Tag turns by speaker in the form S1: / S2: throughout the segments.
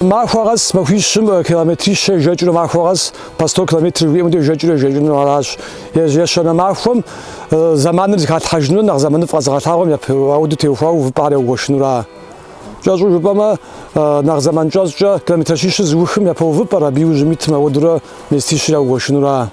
S1: Махуэ къэс махуищым километрищэ жэкӏыурэ махуэ къэс по 100 километр жыхуиӏэм хуэдэ жэкӏыурэ ежэкӏынур аращ. Ещанэ махуэм заманыр зыхалъхьэжынур нэхъ заманыфӏ къэзыгъэлъагъуэм япэ ауэду теухуауэ увыпӏэр яугуэшынура. Кӏэщӏу жыпӏэмэ, нэхъ заман кӏэщӏкӏэ километрищищыр зыухым япэ увыпӏэр, абы иужьым итым ауэдурэ местищыр яугуэшынура.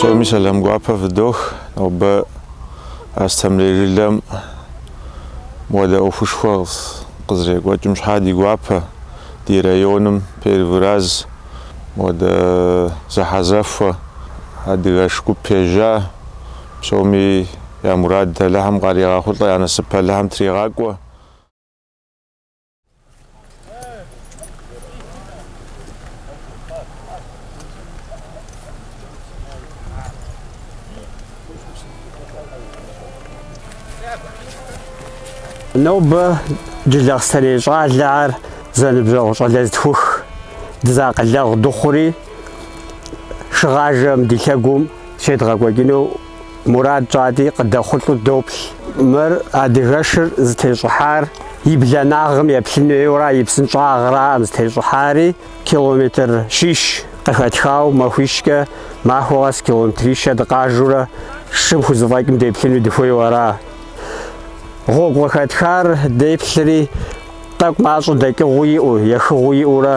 S1: Псоми сэлам гуапэ фыдох. Нобэ Астемрей жылэм мыуэдэ ӏуэхушхуэ къызэрекӏуэкӏым щхьа ди гуапэ, ди районым первый раз мыуэдэ зэхьэзэхуэ адыгэш гуп ежьа. Псоми я мурад Алыхьым къаригъэхъулӏэ, я насып Алыхьым тригъакӏуэ. Нобэ Джылахъстэней щӏалэхэр зэныбжьэгъу щӏалэ зытхух дызэакъылэгъу дыхъури, шыгъажэм ди лъэгум щедгъэкӏуэкӏыну Мурад тщӏати, къыдэхъулӏэу доплъ. Мыр адыгэшыр зытещӏыхьар и бланагъым еплъын хуейуэра, и псынщӏагъраӏым зытещӏыхьари, километр щищ къыхэтхауэ махуищкӏэ, махуэ къэс километрищэ дыкъажэурэ шым хузэфӏэкӏым деплъыну дыхуейуэра. Гъуэгу къыхэтхар деплъри, тӏэкӏу мащӏэ дэкӏыгъуи иӏэу, ехыгъуи иӏэурэ,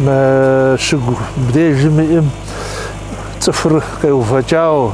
S1: Мы щыгум дежым иӏым цӏыхур къеувэкӏауэ,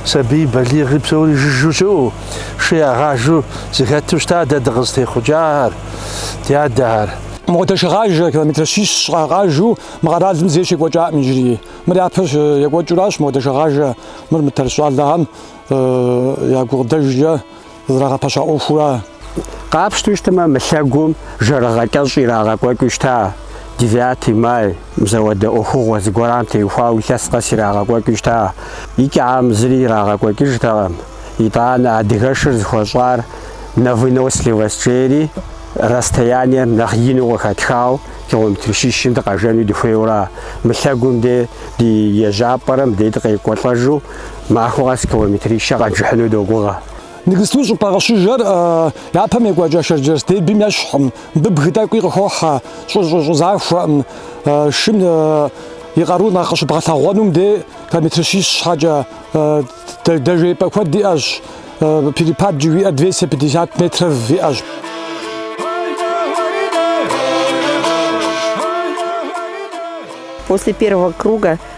S1: сабий, балигъи псори жыжьэу щыӏэу, шы ягъажэу зыхэту щыта дэ дыкъызытехъукӏахэр, ди адэхэр. Мыхуэдэ шыгъажэ, километр щищ щхьа къажэу мы къэралым зэи щекӏуэкӏакъым иджыри. Мыр япэ екӏуэкӏыуращ мыхуэдэ шыгъажэ, мыр мы Тэрч щӏалэгъэм я гукъыдэжкӏэ. зрагъэпэща ӏуэхура? Къапщту щытмэ, мы лъэгум жэрыгъэ кӏэщӏ ирагъэкӏуэкӏыу щыта, Девятый май, мызэуэдэ ӏуэхугъуэ зыгуэрам теухуауэ илъэс къэс ирагъэкӏуэкӏыу щыта. Икӏэм зыри ирагъэкӏуэкӏыжтэкъым, итӏанэ адыгэшыр зыхуэщӏар на выносливость жери расстояниер нэхъ ину къыхэтхау километр щищым дыкъэжэну дыхуейуэра? Мы лъэгум де ди ежьапӏэрэм де дыкъекӏуэлӏэжу Махуэ къэс километрищэ къэджыхьыну догугъэ. Ныгысту щӏыпӏэ къыщыжэр япэм екӏуэкӏа Шэрджэс дербим ещхькъым. Мыбы бгы тӏэкӏуи къыхохьэ, щӏы-щӏы-щӏы захуэкъым. Шым и къару нэхъ къыщыбгъэлъэгъуэнум дей километрищищ щхьэкӏэ, дэжеипӏэ куэд иӏэщ, перепад жыхуиӏэр двести пятьдесят метров иӏэщ. После первого круга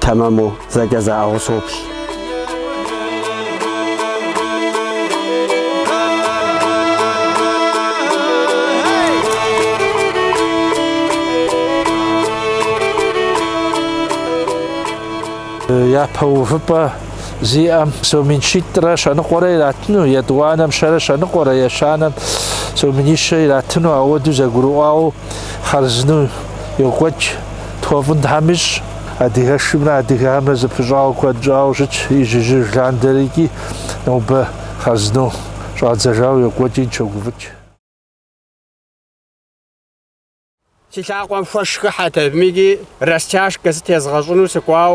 S1: тэмэму зэкӏэ заӏыгъыу соплъ. Япэ увыпӏэ зиӏэм сом мин щитӏрэ щэ ныкъуэрэ иратыну, етӏуанэм щэрэ щэ ныкъуэрэ, ещанэм сом минищэ иратыну ауэду зэгурыӏуауэ хъарзынэу йокӏуэкӏ Тхуэфӏын Тхьэм ищӏ адыгэшымрэ адыгэхэмрэ зэпыщӏауэ куэд щӏауэ щытщ ижьыжьыж ландэрэ икӏи нобэ хъарзыну щӏадзэжауэ йокӏуэкӏи дыщогуфӏыкӏ. Си лъакъуэм хуэш хыхьэт абыми ди растяжкэ зытезгъэщӏыну сыкӏуау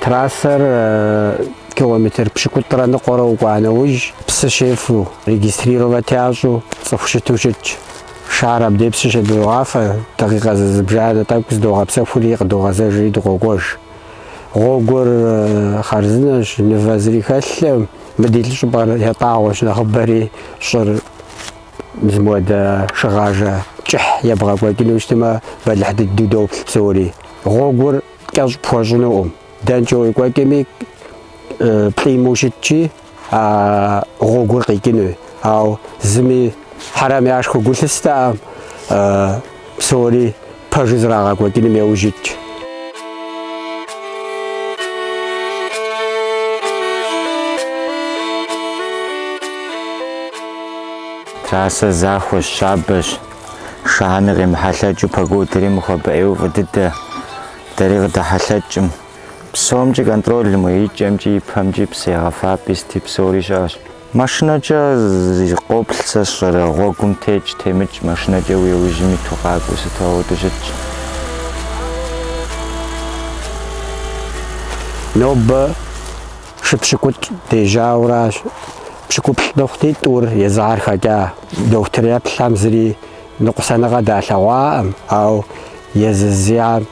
S1: Трассэр километр пщыкӏутӏрэ ныкъуэрэ укӏуа нэужь, псы щефу, регистрировать ящӏу цӏыху щыту щытщ. Шыхэр абдей псы щедогъафэ, дакъикъэ зызыбжанэ тӏэкӏу здогъэпсэхури къыдогъэзэжри дыкъокӏуэж. Гъуэгур хъарзынэщ, мывэ зыри хэлъкъым, мы ди лӏы щӏыпӏэр ятӏагъуэщ нэхъыбэри щӏыр. Мы зы мыуэдэ шыгъажэ кӏыхь ебгъэкӏуэкӏыну щытмэ, бэлыхь дыдэу доплъ псори. Гъуэгур кӏэщӏ пхуэщӏынукъым. Дэнкӏэ уекӏуэкӏми, плӏимэу щытщи, а гъуэгур къикӏынуи. Ауэ зыми хьэрэмыгъэшхуэ гу лъыстэкъым. Псори пэжу зэрырагъэкӏуэкӏыным яужь итщ. Трассэр захуэщ, щабэщ. Шыхэм къемыхьэлъэкӏыу погодэри мыхуэбэӏейуэ фӏы дыдэ. Дэри къыдэхьэлъэкӏкъым. Псомкӏи контролым уэ икӏэмкӏи, ипэмкӏи, псы егъэфапӏи сыти псори щыӏэщ. Машинэкӏэ къоплъ, сэ сщӏэрэ, гъуэгум текӏ, темыкӏ, машинэкӏэ уи ужьым иту къакӏуэу сыту ауэду щытщ. Нобэ шы пщыкӏутӏ дежьауэ аращ, пщыкӏуплӏ дыхъути, тӏур езыхэр хэкӏа. Дохутыр еплъам зыри ныкъусаныгъэ далъэгъуакъым, ау езы зиӏэм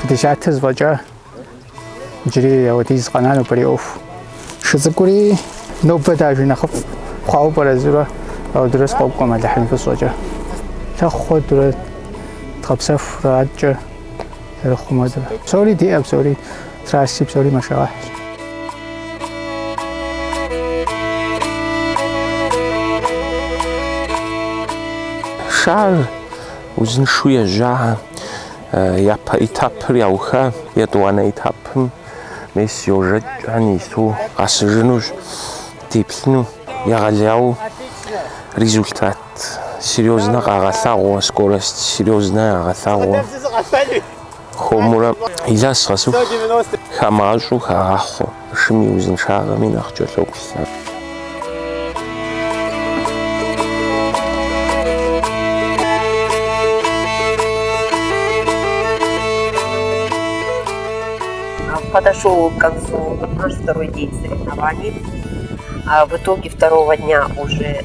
S1: Пятьдесят сыфӏэкӏа иджыри ауэдиз къэна нобэрей ӏуэху. Шы цӏыкӏури нобэ дажэ нэхъыфӏ хъуауэ пӏэрэ жысӏурэ ауэдурэ сыкъокӏуэ Алыхьым и фӏыщӏэкӏэ. Лъэхъу хуэдурэ дгъэпсэхурэ адэкӏэ зэрыхъумэ дэ псори диӏэ псори трасси псори машэгъэхьщ шыхэр узыншу ежьа япэ этапыр яуха етӏуанэ этапым мес йожэкӏхэ ису къэсыжынущ деплъыну егъэлеяу результат серьёзно къагъэлъагъуэ, скорость серьёзно ягъэлъагъуэ. Хуэмурэ илъэс къэсыху хэмыщӏу хагъахъуэ, шым и узыншагъэми нэхъ кӏэлъоплъхэр. Подошел к концу наш второй день соревнований. В итоге второго дня уже